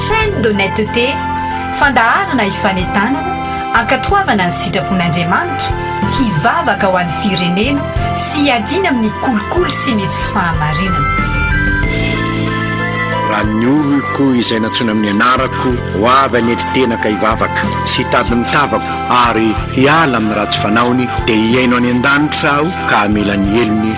Chaîne d'honnêteté, fandaharana hifanentanana, hankatoavana ny sitrapon'Andriamanitra, hivavaka ho an'ny firenena sy hiadiana amin'ny kolikoly sy ny tsy fahamarinana. Raha ny oloko izay nantsoina amin'ny anarako ho avy hanetry tena ka hivavaka sy hitady ny tavako ary hiala amin'ny ratsy fanaony dia hihaino any an-danitra aho ka hamela ny helony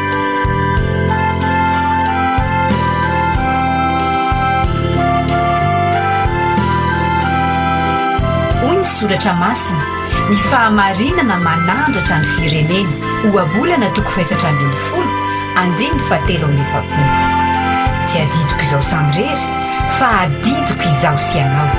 Hoy ny soratra masina, Ny fahamarinana manandratra ny firenena, Ohabolana toko fahefatra ambin'ny folo, andininy fahatelo amby efapolo. Tsy adidiko izaho samirery, fa adidiko izaho sy ianao.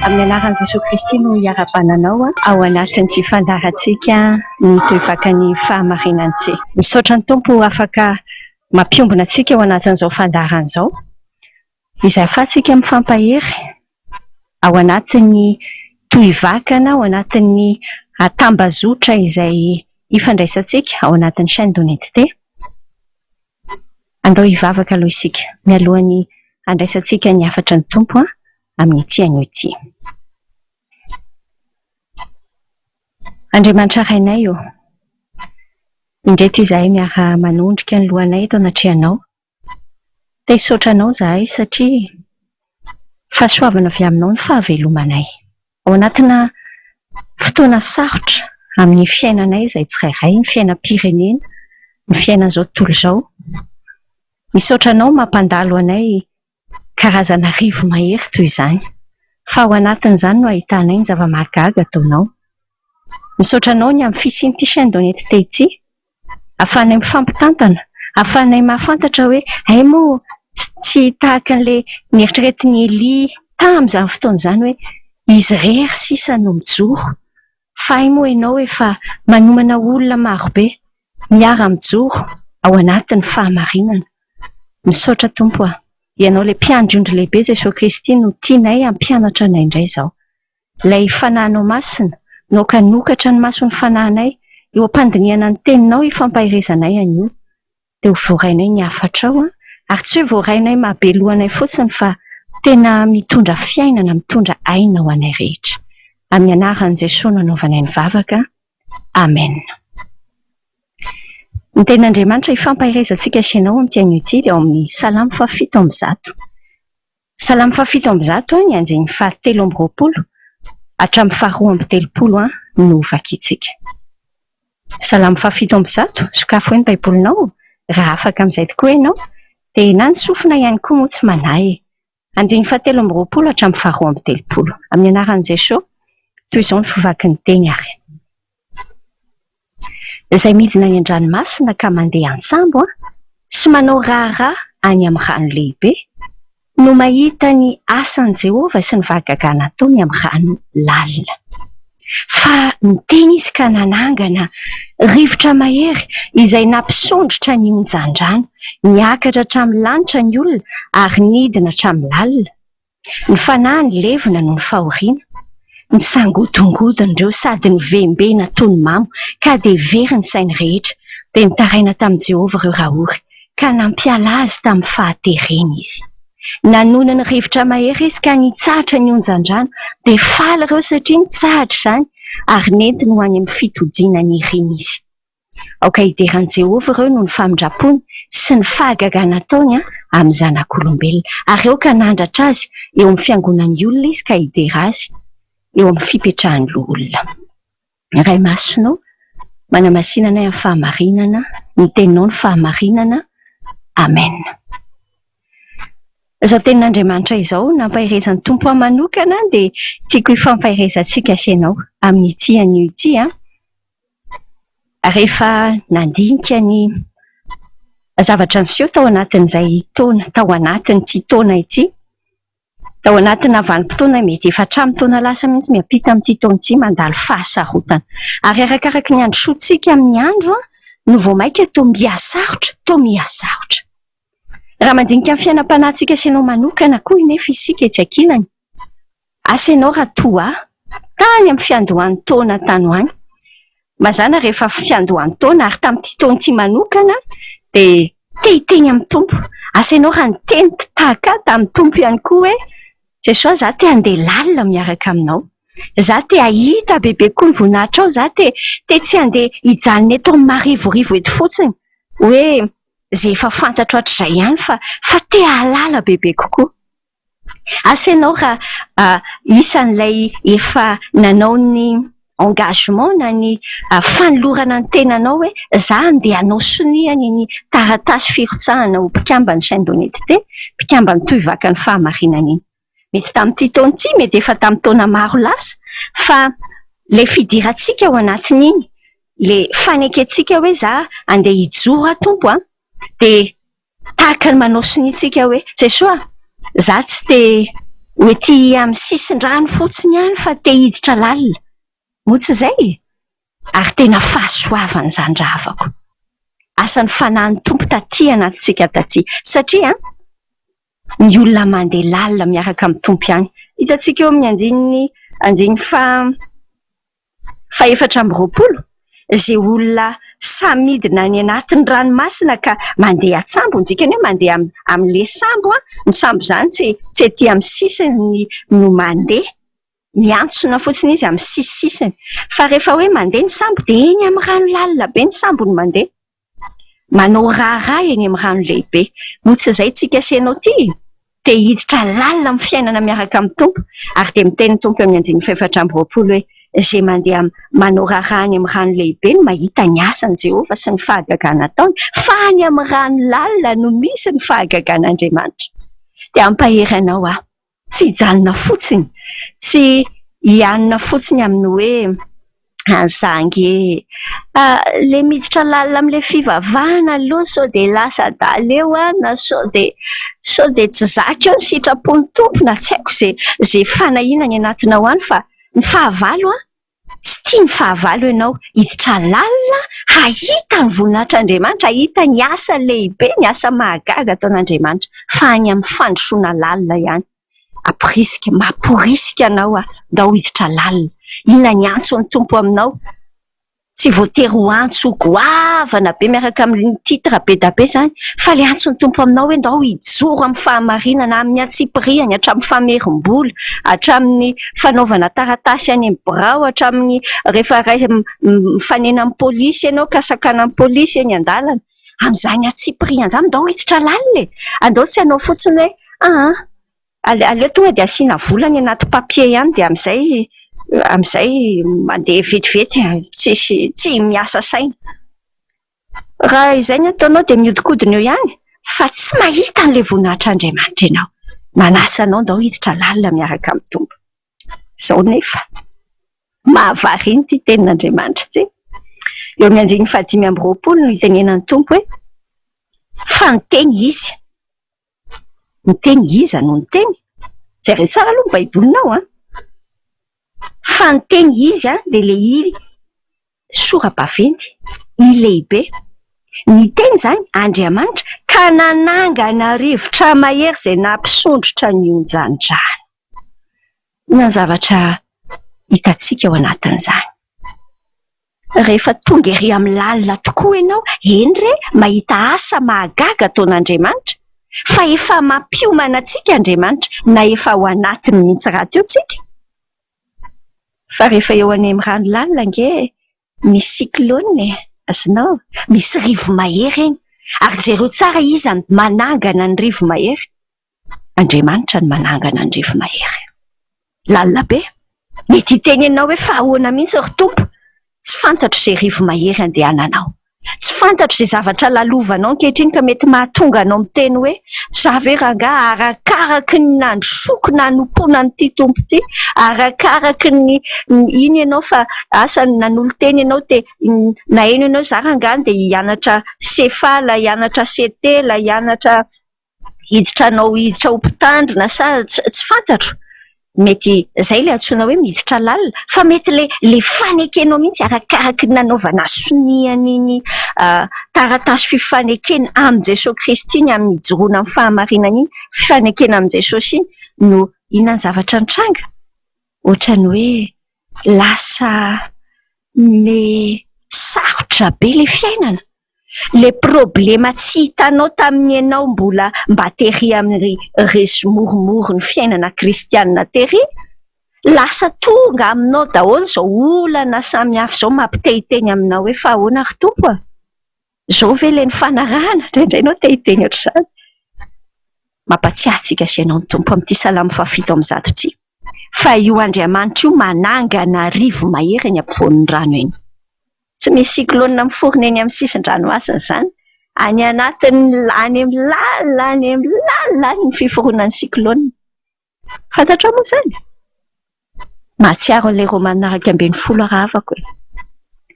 Amin'ny anaran'i Jesoa Kristy no iarabananao ao anatin'ity fandaharantsika ny toe-vakan'ny fahamarinany ity. Misaotra ny Tompo afaka mampiombona antsika ao anatin'izao fandaharana izao izay afahantsika mifampahery ao anatin'ny toe-vakana, ao anatin'ny tambazotra izay ifandraisantsika ao anatin'ny chaine de Unidité. Andao hivavaka aloha isika, mialohan'ny handraisantsika ny hafatry ny Tompo amin'ity anio ity. Andriamanitra Rainay ô, indreto izahay miara-manondrika ny lohanay eto anatrehanao, te hisaotra Anao izahay satria fahasoavana avy Aminao ny fahavelomanay. Ao anatina fotoana sarotra amin'ny fiainanay izay tsirairay, ny fiainam-pirenena, ny fiainan'izao tontolo izao. Misaotra anao mampandalo anay karazana arivo mahery toy izany, fa ao anatin'izany no ahitanay ny zava-mahagaga ataonao. Misaotra anao ny amin'ny fisian'ity chaîne d'honnêteté ity. Ahafahanay mifampitantana, ahafahanay mahafantatra hoe hay moa tsy tahaka an'ilay neritreretin'i Elia tamin'izany fotoana izany hoe izy irery sisa no mijoro fa hay moa ianao efa manomana olona marobe miara-mijoro ao anatin'ny fahamarinana. Misaotra Tompo a! Ianao ilay Mpiandry ondry lehibe Jesoa Kristy no tianay hampianatra anay indray izao. Ilay Fanahinao Masina, nokanokatra ny mason'ny fanahinay, eo am-pandinihana ny Teninao ifampaherezanay anio. Dia ho voarainay ny hafatrao, ary tsy hoe voarainay mahabelohanay fotsiny fa tena mitondra fiainana, mitondra aina ho anay rehetra. Amin'ny Anaran'i Jesoa no anaovanay ny vavaka. Amen. Ny Tenin'Andriamanitra ifampaherezantsika sy ianao amin'ity anio ity dia ao amin'ny Salamo fahafito amby zato. Salamo fahafito amby zato ny andininy fahatelo amby roapolo hatramin'ny faharoa amby telopolo no ho vakintsika. Salamo fahafito amby zato, sokafo hoe ny baibolinao raha afaka amin'izay tokoa ianao, dia na ny sofina ihany koa moa tsy manahy e! Andininy fahatelo amby roapolo hatramin'ny faharoa amby telopolo. Amin'ny anaran'i Jesoa, toy izao ny fo vaky ny teny ary. izay midina any an-dranomasina ka mandeha an-tsambo sy manao raharaha any amin'ny rano lehibe, no mahita ny asan'i Jehovah sy ny fahagagana ataony amin'ny rano lalina. Fa niteny izy ka nanangana rivotra mahery izay nampisondrotra ny onjan-drano. Niakatra hatramin'ny lanitra ny olona ary nidina hatramin'ny lalina. Ny fanahy nilevina noho ny fahoriana, nisangodongodon'ireo sady novembena toy ny mamo ka dia very ny sainy rehetra, dia nitaraina tamin'i Jehovah ireo rahory ka nampiala azy tamin'ny fahatereny izy. Nanohina ny rivotra mahery izy ka nitsahatra ny onjan-drano, dia faly ireo satria nitsahatra izany ary nentiny ho any amin'ny fitojiana niriny izy. Aoka hideran'i Jehovah ireo noho ny famindram-pony sy ny fahagagana ataony amin'ny zanak'olombelona, ary aoka hanandratra azy eo amin'ny fiangonan'ny olona izy ka hidera azy eo amin'ny fipetrahan'ny loholona. Ray Masina ô, manamasina anay amin'ny fahamarinana, ny Teninao no fahamarinana. Amena. Izao Tenin'Andriamanitra izao nampaherezan'ny Tompo ahy manokana dia tiako hifampaherezantsika sy ianao amin'ity anio ity. rehefa nandinika ny zavatra niseho tao anatin'izay taona, tao anatin'ity taona ity, tao anatina vanim-potoana mety efa hatramin'ny taona lasa mihitsy miampita amin'ity taona ity mandalo fahasarotana. Ary arakaraka ny androsoantsika amin'ny andro no vao mainka toa miha-sarotra, toa miha-sarotra. Raha mandinika ny fiainam-panahintsika sy anao manokana koa anefa isika etsy ankilany, Asa ianao raha toa ahy, tany amin'ny fiandohan-taona tany ho any, mazàna rehefa fiandohan-taona ary tamin'ity taona ity manokana dia te-hiteny amin'ny Tompo, asa ianao raha niteny tahaka ahy tamin'ny Tompo ihany koa hoe, Jesoa izaho te handeha lalina miaraka aminao, izaho te hahita bebe koa ny voninahitrao, izaho te te tsy handeha hijanona eto amin'ny marivorivo eto fotsiny hoe izay efa fantatro hatrizay ihany fa fa te hahalala bebe kokoa. Asa ianao raha isan'ilay efa nanao ny engagement na ny fanolorana ny tenanao hoe za andeha hanao sonia ny ny taratasy firotsahana ho mpikamban'ny chaine d'honnetete, mpikamban'ny tohivakan'ny fahamarinana iny. Mety tamin'ity taona ity, mety efa tamin'ny taona maro lasa fa ilay fidirantsika ao anatin'iny, ilay fanekentsika hoe za andeha hijoro aho Tompo a! dia Tahaka ny manao sonia tsika hoe, Jesoa a! Za tsy te ho ety amin'ny sisin-drano fotsiny ihany fa te hiditra lalina. Moa tsy izay e? Ary tena fahasoavana izany raha havako. Asa ny Fanahin'ny Tompo taty anatintsika taty. Satria an! Ny olona mandeha lalina miaraka amin'ny Tompo ihany. Hitantsika eo amin'ny andininy andininy faha. fahefatra amby roapolo, izay olona samy midina any anatin'ny ranomasina ka mandeha an-tsambo, ny dikany hoe mandeha amin'ilay sambo, ny sambo izany tsy tsy ety amin'ny sisiny no mandeha, miantsona fotsiny izy amin'ny sisisisiny fa rehefa hoe mandeha ny sambo dia eny amin'ny rano lalina be ny sambo no mandeha. Manao raharaha eny amin'ny rano lehibe. Moa tsy izay tsika sy ianao ity? Te hiditra lalina amin'ny fiainana miaraka amin'ny Tompo, ary dia miteny ny Tompo eo amin'ny andininy fahefatra amby roapolo hoe, Izay mandeha manao raharaha any amin'ny rano lehibe no mahita ny asan'i Jehovah sy ny fahagagana ataony, fa any amin'ny rano lalina no misy ny fahagagan'Andriamanitra. Te hampahery anao aho. Tsy hijanona fotsiny, tsy hianina fotsiny amin'ny hoe any za ange a! le miditra lalina amin'ilay fivavahana aloha sao dia lasa adala eo aho na sao dia sao dia tsy zaka eo ny sitrapon'ny Tompo na tsy haiko izay izay fanahiana any anatinao any fa ny fahavalo an! Tsy tia ny fahavalo ianao. Hiditra lalina hahita ny voninahitr'Andriamanitra, hahita ny asa lehibe, ny asa mahagaga ataon'Andriamanitra, fa any amin'ny fandrosoana lalina ihany. Amporisika, mamporisika anao aho, ndao hiditra lalina. Inona ny antson'ny Tompo aminao? Tsy voatery ho antso goavana be miaraka amin'ny titre be dia be izany, fa ilay antson'ny Tompo aminao hoe ndao hijoro amin'ny fahamarinana, amin'ny antsipirihany, hatramin'ny famerim-bola, hatramin'ny... fanaovana taratasy any amin'ny birao hatramin'ny rehefa mifanena amin'ny polisy ianao ka sakanan'ny polisy eny an-dalana. Amin'izany antsipiriany izany ndao hiditra lalina e! Andao tsy hanao fotsiny hoe aa aleo aleo tonga dia asiana vola any anaty papier ihany dia amin'izay amin'izay mandeha vetivety tsisy tsy miasa saina. Raha izay ny ataonao dia mihodinkodina eo ihany fa tsy mahita an'ilay voninahitr' Andriamanitra ianao. Manasa anao ndao hiditra lalina miaraka amin'ny Tompo. Izao nefa. Mahavariana ity tenin' Andriamanitra ity. Eo amin'ny andininy fahadimy amby roapolo no itenenan'ny Tompo hoe, Fa niteny Izy. Ny teny iza no niteny? Jereo tsara aloha ny baibolinao an! Fa ny teny izy dia ilay iry sora-baventy, i lehibe. Ny teny izany Andriamanitra ka nanangana rivotra mahery izay nampisondrotra ny onjan-drano. Inona ny zavatra hitantsika ao anatin'izany? Rehefa tonga ery amin'ny lalina tokoa ianao, eny re, mahita asa mahagaga ataon'Andriamanitra, fa efa mampiomana antsika Andriamanitra, na efa ao anatiny mihitsy rahateo tsika. Fa rehefa eo any amin'ny rano lalina ange misy cyclone e! azonao? misy rivo-mahery eny, ary jereo tsara iza no manangana ny rivo-mahery. Andriamanitra no manangana ny refy mahery. Lalina be. Mety hiteny anao hoe fa ahoana mihitsy ry Tompo? Tsy fantatro izay refy mahery handehananao. Tsy fantatro izay zavatra lalovanao ankehitriny ka mety mahatonga anao miteny hoe, za ve rangaha arakaraky ny nandrosoako nanompoana an'ity Tompo ity, arakaraky ny iny ianao fa asa nanolo-tena ianao te naheno anao, za rangaha dia hianatra CFA, ilay hianatra CT, ilay hianatra hiditra hanao hiditra ho mpitandrina sa tsy fantatro, mety izay ilay antsoina hoe miditra lalina fa mety ilay ilay fanekenao mihitsy arakaraky ny nanaovana sonia an'iny taratasy fifanekena amin'i Jesoa Kristy ny amin'ny hijoroana amin'ny fahamarinana iny, fifanekena amin'i Jesosy iny no inona ny zavatra nitranga? Ohatran'ny hoe lasa me- sarotra be ilay fiainana. le problema tsy hitanao tamin'ny ianao mbola mba tery amin'ny resy moromoro ny fiainana kristianina tery, lasa tonga aminao daholo izao olana samy hafa izao mampitehiteny aminao hoe fa ahoana ry Tompo a! Izao ve ilay nifanarahana? Indraindray ianao te hiteny ohatr'izany. Mampatsiahy antsika sy ianao ny Tompo amin'ity salamo fahafito amby zato ity, fa io Andriamanitra io manangana rivo-mahery eny ampovoan'ny rano eny. Tsy misy cyclone miforona eny amin'ny sisin-dranomasina izany. Any anatiny any amin'ny lalina any amin'ny lalina any ny fiforonan'ny cyclone. Fantatrao moa izany? Mahatsiaro an'ilay Romanina iraika ambin'ny folo arahavako e!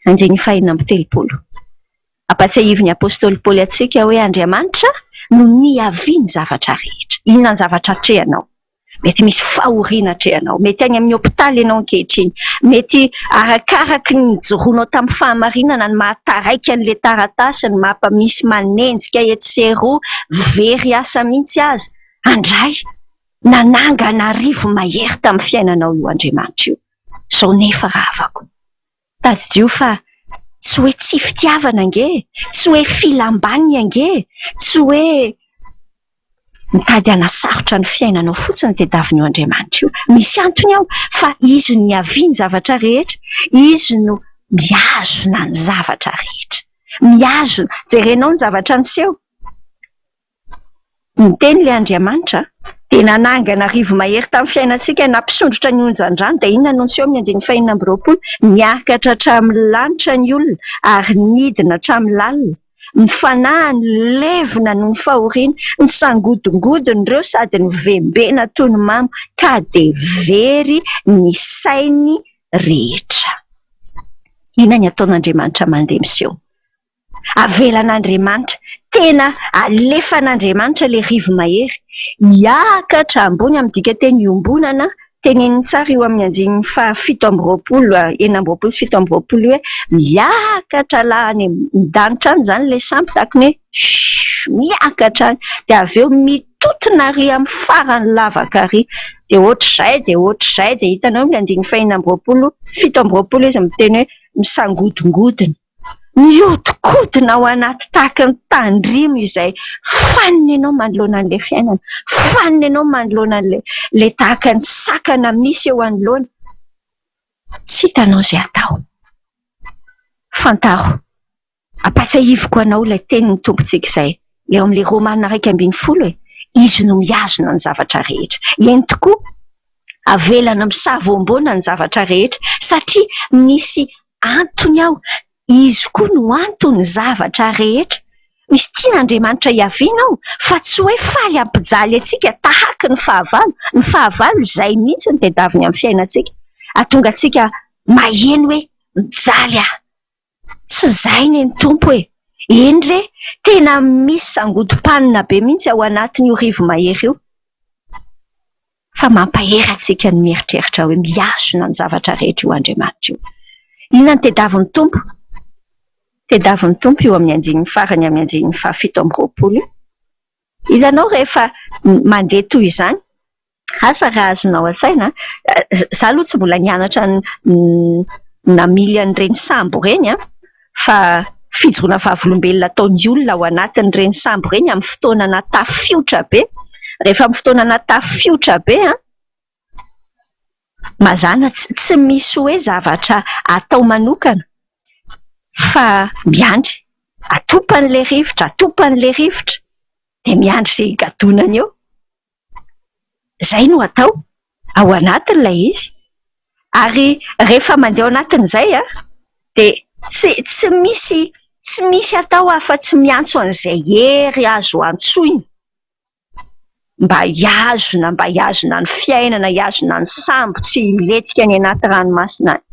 Andiany fahiny amby telopolo. Ampahatsiahivin'ny apostoly Paoly antsika hoe Andriamanitra no niavian'ny zavatra rehetra. Inona ny zavatra atrehanao? Mety misy fahoriana atrehanao. Mety any amin'ny hopitaly ianao ankehitriny. Mety arakaraka ny nijoroanao tamin'ny fahamarinana ny maha-taraiky an'ilay taratasy, ny maha-mpamisy manenjika etsy sy eroa, very asa mihitsy aza. Andray, nanangana arivo mahery tamin'ny fiainanao io Andriamanitra io. Izao nefa rahavako. Tadidio fa tsy hoe tsy fitiavana ange e! Tsy hoe filam-baniny ange e! Tsy hoe mitady hanasarotra ny fiainanao fotsiny ny tadiavin'io Andriamanitra io. Misy antony ao fa Izy no niavian'ny zavatra rehetra, Izy no mihazona ny zavatra rehetra. Mihazona, jerenao ny zavatra niseho. Niteny ilay Andriamanitra, dia nanangana rivo-mahery tamin'ny fiainantsika, nampisondrotra ny onjan-drano, dia inona no niseho amin'ny andininy fahenina amby roapolo? Niakatra hatramin'ny lanitra ny olona ary nidina hatramin'ny lalina, ny fanahy nilevina noho ny fahoriana, nisangodongodin'ireo sady novembena toy ny mamo, ka dia very ny sainy rehetra. Inona ny ataon'Andriamanitra mandeha miseho? avelan'Andriamanitra, tena alefan'Andriamanitra ilay rivo-mahery, hiakatra ambony amin'ny dikanteny iombonana, teneniny tsara io amin'ny andininy fahafito amby roapolo, enina amby roapolo sy fito amby roapolo hoe miakatra la any an-danitra any izany ilay sampy tahaka ny hoe shhh, miakatra any, dia avy eo mitontona ary amin'ny farany lavaka ary dia ohatr'izay dia ohatr'izay dia hitanao ny andininy fahenina amby roapolo, fito amby roapolo izy miteny hoe misangodingodina. Mihodinkodina ao anaty tahaky ny tandrimo izay fanina ianao manoloana an'ilay fiainana, fanina ianao manoloana an'ilay tahaka ny sakana misy eo anoloana. Tsy hitanao izay atao. Fantaro, ampatsahiviko anao ilay tenin'ny Tompontsika izay, eo amin'ilay Romana iraika ambin'ny folo e, Izy no mihazona ny zavatra rehetra. Eny tokoa, avelana misavoamboana ny zavatra rehetra satria misy antony aho, izy koa no anton'ny zavatra rehetra. Misy tian' Andriamanitra hiaviana aho, fa tsy hoe faly hampijaly antsika tahaky ny fahavalo. Ny fahavalo izay mihitsy no tadiaviny amin'ny fiainantsika, hahatonga antsika maheno hoe mijaly aho. Tsy izay anie ny Tompo e! Eny re, tena misy sangodim-panina be mihitsy ao anatin'io rivo-mahery io. fa mampahery antsika ny mieritreritra hoe mihazona ny zavatra rehetra io Andriamanitra io. Inona no tediavin'ny Tompo? Tediavin'ny Tompo io amin'ny andininy farany amin'ny andininy fahafito amby roapolo io. Hitanao rehefa mandeha toy izany, asa raha azonao an-tsaina an, izaho aloha tsy mbola nianatra ny namily an'ireny sambo ireny an! fa fijoroana vavolombelona ataon'ny olona ao anatin'ireny sambo ireny amin'ny fotoana natafiotra be. Rehefa amin'ny fotoana natafiotra be, mazàna tsy misy hoe zavatra atao manokana fa miandry. Atopany ilay rivotra, atopany ilay rivotra, dia miandry izay higadonany eo. Izay no atao ao anatiny ilay izy ary rehefa mandeha ao anatiny izay dia tsy tsy misy tsy misy atao afa-tsy miantso an'izay hery azo antsoina mba hihazona mba hihazona ny fiainana, hihazona ny sambo tsy hilentika any anaty ranomasina any.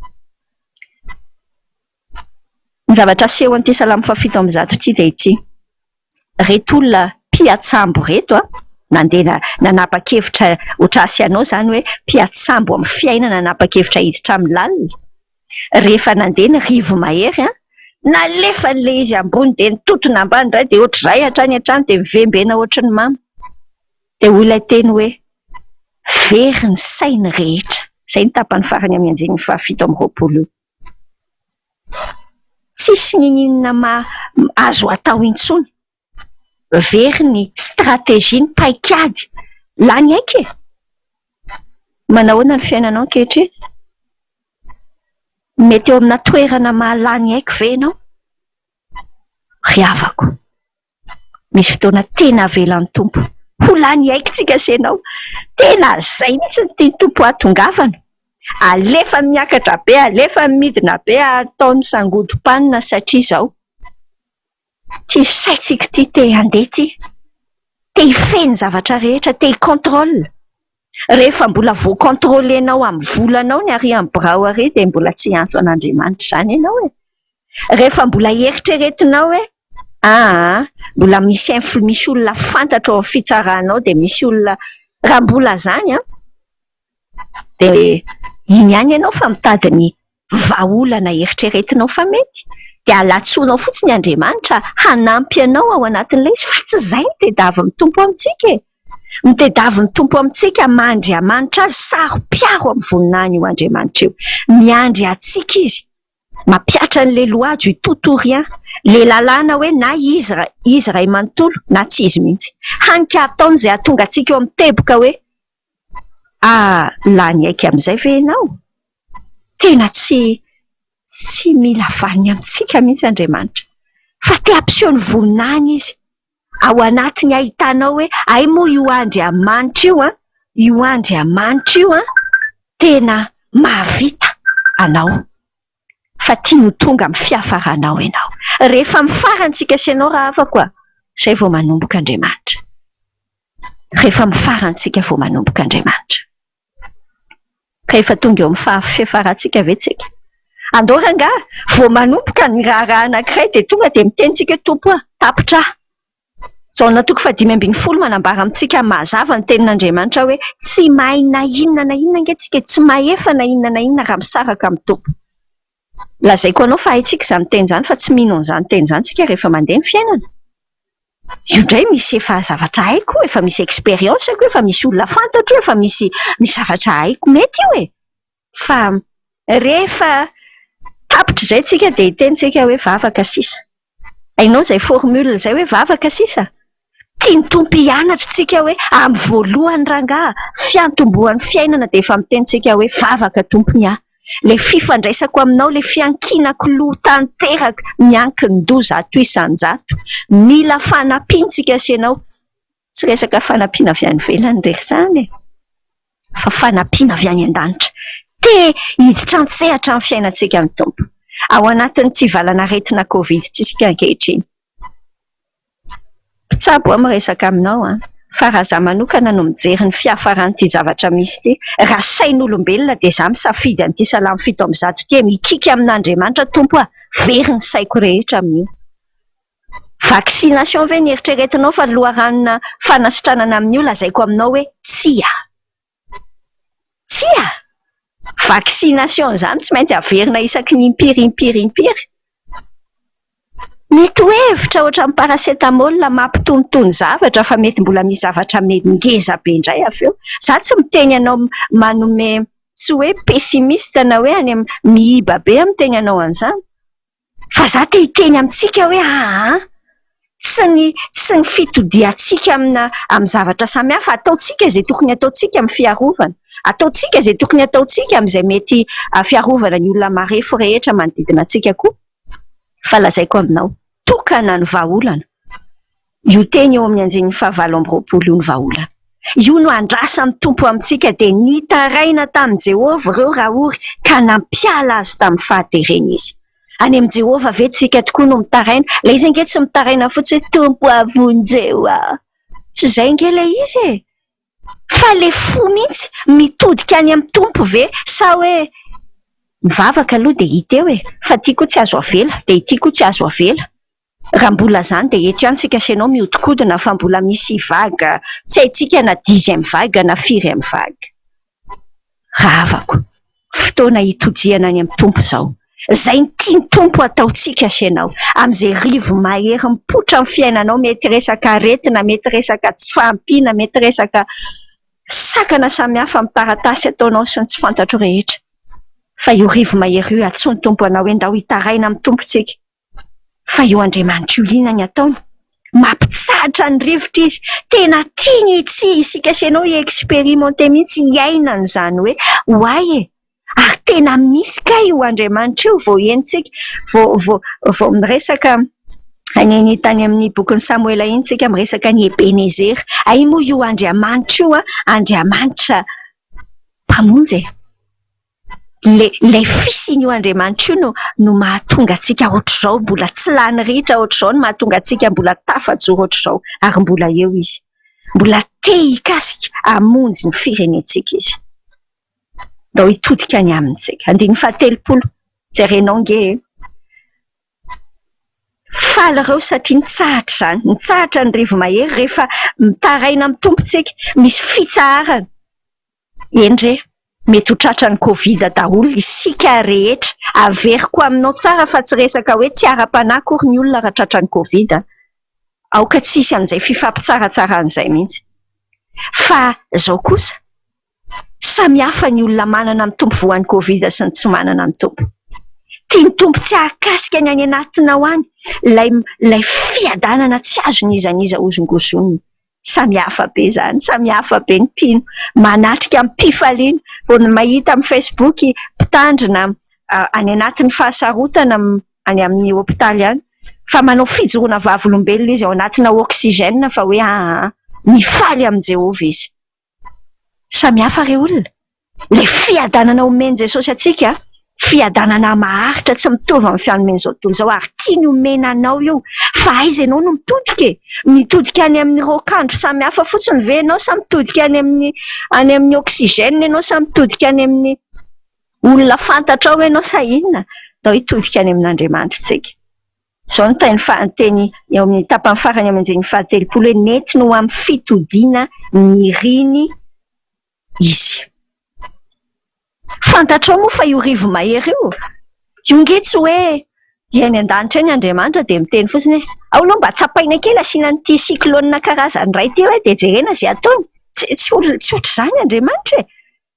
Ny zavatra asehon'ity salamo fahafito amby zato ity dia ity, ireto olona mpiantsambo ireto, nandeha nanapa-kevitra ho tracé anao izany hoe mpiantsambo amin'ny fiainana nanapa-kevitra hiditra amin'ny lalina, rehefa nandeha ny rivo-mahery, nalefany ilay izy ambony dia nitontona ambany indray dia ohatr'izay hatrany hatrany dia mivembena ohatry ny mamo, dia hoy ilay teny hoe, very ny sainy rehetra, izay no tapany farany amin'ny andininy fahafito amby roapolo io. Tsisy n'inon'inona azo atao intsony. Very ny stratégie, ny paik'ady. Lany aika e ! Manahoana ny fiainanao ankehitriny ? Mety eo amina toerana mahalany aiko ve ianao ? Ry havako ! Misy fotoana tena avelan'ny Tompo ho lany aikintsika sy ianao. Tena izay mihitsy no tian'ny Tompo hahatongavana. Alefany miakatra be, alefany midina be, ataony sangodim-panina satria izao ity saintsika ity te handeha ity, te hifehy ny zavatra rehetra, te hi-contrôle. Rehefa mbola vo controlenao amin'ny volanao ny ary amin'ny birao ary dia mbola tsy hiantso an'Andriamanitra izany ianao e! Rehefa mbola eritreretinao hoe aa mbola misy infl misy olona fantatro ao amin'ny fitsarana ao dia misy olona raha mbola izany an! dia iny ihany ianao fa mitady ny vahaolana eritreretinao fa mety, dia alatsoanao fotsiny Andriamanitra hanampy anao ao anatin'ilay izy fa tsy izay no tadiavin'ny Tompo amintsika e! Ny tadiavin'ny Tompo amintsika maha Andriamanitra Azy, saro-piaro amin'ny voninahiny io Andriamanitra io. Miandry antsika Izy. Mampihatra ny le loajo i tout ou rien, le lalàna hoe na izy iray manontolo na tsy izy mihitsy. Hany ka ataony izay hahatonga antsika eo amin'ny teboka hoe Ah! lany aika amin'izay ve ianao? Tena tsy tsy mila vaniny amintsika mihitsy Andriamanitra, fa te hampiseho ny vonona any Izy, ao anatiny ahitanao hoe hay moa io Andriamanitra io an! io Andriamanitra io an! tena mahavita anao. fa tiany ho tonga amin'ny fiafaranao ianao. Rehefa amin'ny farantsika sy ianao raha afaka oa, izay vao manomboka Andriamanitra. Rehefa amin'ny farantsika vao manomboka Andriamanitra. Ka efa tonga eo amin'ny faha fiafarantsika ve tsika? Andao rangaha, vao manomboka ny raharaha anankiray dia tonga dia miteny tsika hoe Tompo oa, tapitra aho. Jaona toko fahadimy ambin'ny folo manambara amintsika mazava ny tenin'Andriamanitra hoe tsy mahay na inona na inona ange tsika e, tsy mahefa na inona na inona raha misaraka amin'ny Tompo. Lazaiko anao fa haintsika izany teny izany fa tsy mino an'izany teny izany tsika rehefa mandeha ny fiainana. Io indray misy efa zavatra haiko, efa misy expérience ko, efa misy olona fantatro, efa misy misy zavatra haiko mety io e! fa rehefa tapitra izay tsika dia hiteny tsika hoe vavaka sisa, hainao izay formule izay hoe vavaka sisa? Tian'ny Tompo hianatra tsika hoe amin'ny voalohany rangaha fiantombohan'ny fiainana dia efa miteny tsika hoe vavaka tompony aho, ilay fifandraisako aminao, ilay fiankinako loha tanteraka miankin-doza ato isan-jato, mila fanampiantsika sy ianao Tsy resaka fanampiana avy any ivelany re izany e ! Fa fanampiana avy any an-danitra te hiditra an-tsehatra amin'ny fiainantsika ny Tompo ao anatin'ity valan'aretina Covid-ntsika ankehitriny. Mpitsabo aho miresaka aminao an! Fa raha izaho manokana no mijery ny fiafaran'ity zavatra misy ity, raha sain'olombelona dia izaho misafidy an'ity salamo fito amby zato ity e! Mikiky amin'Andriamanitra Tompo aho, very ny saiko rehetra amin'io. Vaccination ve ny eritreretinao fa loharanona fanasitranana amin'io lazaiko aminao hoe tsia. Tsia! Vaccination izany tsy maintsy averina isaky ny impiry impiry impiry. Mitohevitra ohatran'ny paracetamol mampitonitony zavatra fa mety mbola misy zavatra ngeza be indray avy eo. Izaho tsy miteny anao manome tsy hoe pessimiste na hoe any amin'ny mihiba be amin'ny tenanao an'izany. Fa za te hiteny amintsika hoe aa tsy ny tsy ny fitodiantsika amina amin'ny zavatra samihafa, ataontsika izay tokony ataontsika amin'ny fiarovana, ataontsika izay tokony ataontsika amin'izay mety fiarovana ny olona marefo rehetra manodidina antsika koa fa lazaiko aminao tokana ny vahaolana. Io teny eo amin'ny andininy fahavalo amby roapolo io no vahaolana. Io no andrasan'ny Tompo amintsika, dia nitaraina tamin'i Jehovah ireo raory ka nampiala azy tamin'ny fahaterena izy. Any amin'i Jehovah ve tsika tokoa no mitaraina? Ilay izy ange tsy mitaraina fotsiny hoe Tompo a, vonjeo aho. Tsy izay ange ilay izy e! Fa le fo mihitsy mitodika any amin'ny Tompo ve sa hoe mivavaka aloha dia hita eo e! Fa ity koa tsy azo avela dia ity koa tsy azo avela. Raha mbola izany dia eto ihany isika sy ianao mihodinkodina fa mbola misy vague tsy haintsika na dixième vague na firième vague. rahavako, fotoana hitodihana any amin'ny Tompo izao. Izay ny tian'ny Tompo hataontsika sy ianao, amin'izay rivo mahery mipoitra amin'ny fiainanao, mety resaka aretina, mety resaka tsy fahampiana, mety resaka sakana samihafa amin'ny taratasy ataonao sy ny tsy fantatro rehetra. Fa io rivo mahery io, antsoin'ny Tompo anao hoe ndao hitaraina amin'ny Tompo isika. fa io Andriamanitra io liana ny ataony, mampitsahatra ny rivotra izy, tena tiany tsy isika sy ianao hi-expérimenter mihitsy, hiaina an'izany hoe ho ahy e! ary tena misy kay io Andriamanitra io vao henontsika, vao miresaka an'iny tany amin'ny bokin'i Samoela iny isika miresaka an'i Ebenezera, hay moa io Andriamanitra io an, Andriamanitra mpamonjy e! Ilay fisin'io Andriamanitra io no mahatonga antsika hoatr'izao, mbola tsy lany ritra hoatr'izao no mahatonga antsika mbola tafajoro hoatr'izao ary mbola eo Izy. Mbola te hikasika hamonjy ny firenentsika Izy. Andao hitodika ny Aminy isika. Andininy fahatelopolo, jerenao ange e! Faly ireo satria nitsahatra izany, nitsahatra ny rivo-mahery rehefa mitaraina amin'ny Tompo isika, misy fitsaharana. Eny re, mety ho tratran'ny Covid daholo isika rehetra. Averiko aminao tsara fa tsy resaka hoe tsy ara-panahy akory ny olona raha tratran'ny Covid a! Aoka tsy hisy an'izay fifampitsaratsarana izay mihitsy. Fa izao kosa, samy hafa ny olona manana mitombo voan'ny Covid sy ny tsy manana mitombo. Tian'ny Tompo tsy hahakasika ny any anatinao any ilay ilay fiadanana tsy azon'iza n'iza hozongozonina. Samy hafa be izany, samy hafa be ny mpino, manatrika amim-pifaliana vao mahita amin'ny Facebook mpitandrina any anatin'ny fahasarotana any amin'ny hopitaly any fa manao fijoroana vavolombelona izy ao anatina oxygène fa hoe ahaa, mifaly amin'i Jehovah izy. Samy hafa ry olona. Ilay fiadanana omen'i Jesosy antsika, fiadanana maharitra tsy mitovy amin'ny fanomen'izao tontolo izao, ary tiany omena anao io, fa aiza ianao no mitodika e? Mitodika any amin'ny raokandro samy hafa fotsiny ve ianao sa mitodika any amin'ny any amin'ny oxygène ianao sa mitodika any amin'ny olona fantatrao ianao sa inona? Ndao hitodika any amin'Andriamanitra isika. Izao no teny faha teny eo amin'ny tapany farany eo amin'ny andininy fahatelopolo hoe nety no amin'ny fitodiana niriny izy. Fantatrao moa fa io rivo-mahery io, io ange tsy hoe dia any an-danitra any Andriamanitra dia miteny fotsiny hoe ao aloha mba tsapaina kely asiana an'ity cyclone karazany iray ity hoe dia jerena izay ataony. Tsy tsy ohatr'izany Andriamanitra e !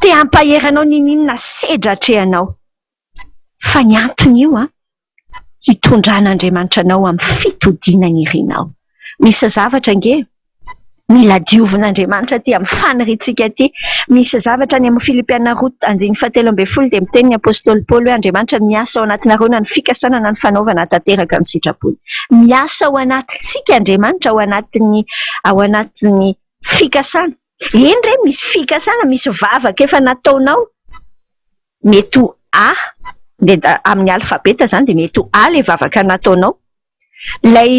Te hampahery anao n'inon'inona sedra atrehanao. Fa ny antony io an! Hitondran'Andriamanitra anao amin'ny fitodiana ny irinao. Misy zavatra ange mila diovin'Andriamanitra aty amin'ny faniriantsika aty. Misy zavatra any amin'ny Filipiana roa andininy fahatelo ambin'ny folo dia miteny ny apostoly Paoly hoe Andriamanitra miasa ao anatinareo na ny fikasana na ny fanaovana hahatanteraka ny sitrapony. Miasa ao anatintsika Andriamanitra ao anatin'ny ao anatin'ny fikasana. Eny re misy fikasana, misy vavaka efa nataonao, mety ho A, amin'ny alfabeta izany dia mety ho A ilay vavaka nataonao, ilay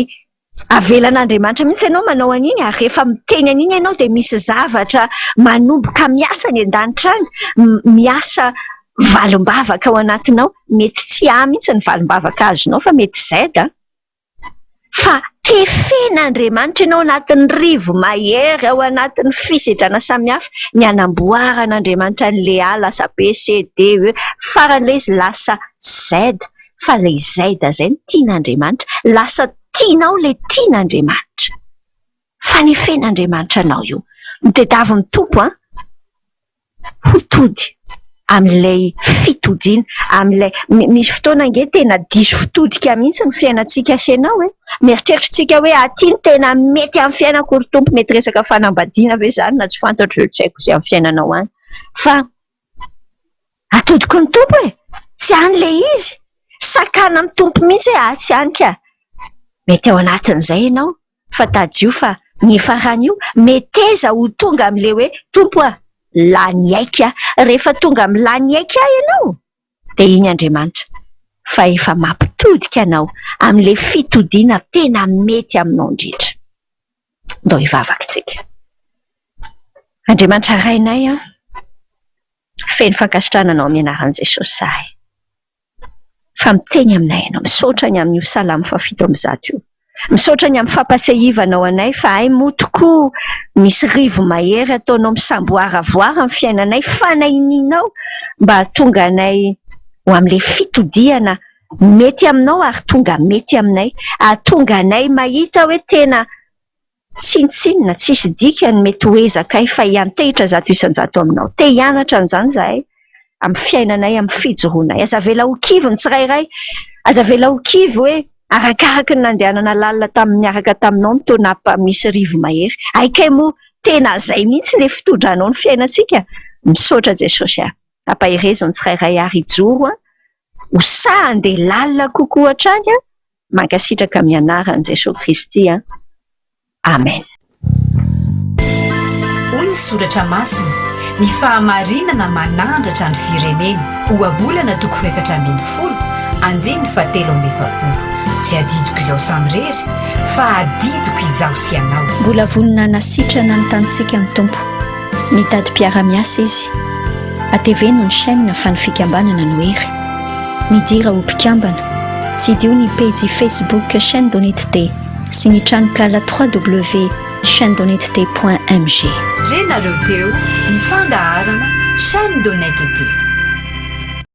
avelan'Andriamanitra mihintsy ianao manao an'iny ary rehefa miteny an'iny ianao dia misy zavatra manomboka miasa any an-danitra any, miasa valim-bavaka ao anatinao, mety tsy A mihintsy ny valim-bavaka azonao fa mety Z. fa tefen'Andriamanitra ianao ao anatin'ny rivo-mahery, ao anatin'ny fisedrana samihafa, ny hanamboaran'Andriamanitra an'ilay A lasa B, C, D, E, faran'ilay izy lasa Z, fa ilay Z izay no tian'Andriamanitra, lasa tianao ilay tian'Andriamanitra. Fanefen'Andriamanitra anao io. Ny tadiavin'ny Tompo an! ho tody amin'ilay fitodiana, amin'ilay misy fotoana ange tena diso fitodika mihitsy ny fiainantsika sy ianao e! Mieritreritritsika hoe aty no tena mety amin'ny fiainako ry Tompo, mety resaka fanambadiana ve izany na tsy fantatro izay tsy haiko izay amin'ny fiainanao any fa atodiko ny Tompo e! Tsy any ilay izy, sakana amin'ny Tompo mihitsy hoe atsy ihany ka! Mety ao anatin'izay ianao. fa tadidio fa ny faran'io meteza ho tonga amin'ilay hoe Tompo a! lany aika aho, rehefa tonga amin'ny lany aika ahy ianao dia iny Andriamanitra fa efa mampitodika anao amin'ilay fitodiana tena mety aminao indrindra. Ndao hivavaka isika. Andriamanitra Rainay a! Feno fankasitrahana anao amin'ny anaran'i Jesosy izahay fa miteny aminay ianao. Misaotra ny amin'io salamo fahafito amby zato io. Misaotra ny amin'ny fampahatsiahivanao anay fa hay moa tokoa misy rivo-mahery ataonao misamboaravoara amin'ny fiainanay fanahinianao mba hahatonga anay ho amin'ilay fitodihana mety aminao ary tonga mety aminay. Hahatonga anay mahita hoe tena. Tsinontsinona, tsisy dikany ny mety ho ezakay fa hiantehitra zato isan-jato aminao. Te hianatra an'izany izahay amin'ny fiainanay, amin'ny fijoroanay. Aza avela ho kivy ny tsirairay. Aza avela ho kivy hoe arakaraky ny nandehanana lalina tamin'ny niaraka taminao ny taona apa misy rivo-mahery. Hay kay moa tena izay mihitsy ilay fitodranao ny fiainantsika. Misaotra Jesosy a. Ampaherezo ny tsirairay ary hijoro a. Ho sahy handeha lalina kokoa hatrany a. Mankasitraka amin'ny anaran'i Jesoa Kristy an! Amen. Hoy ny Soratra Masina, Ny fahamarinana manandratra ny firenena. Ohabolana toko efatra ambin'ny folo, andininy fahatelo amby efapolo. Tsy adidiko izaho samirery, fa adidiko izaho sy ianao. Mbola vonona hanasitrana ny tanintsika ny Tompo. Mitady mpiara-miasa izy. Ateveno ny chaîne fa ny fikambanana no hery. Midira ho mpikambana. Tsidiho ny pejy Facebook Chaîne d'honnêteté sy ny tranonkala www.chainedhonnetete.mg. Re nareo teo ny fandaharana chaine d'honnetete.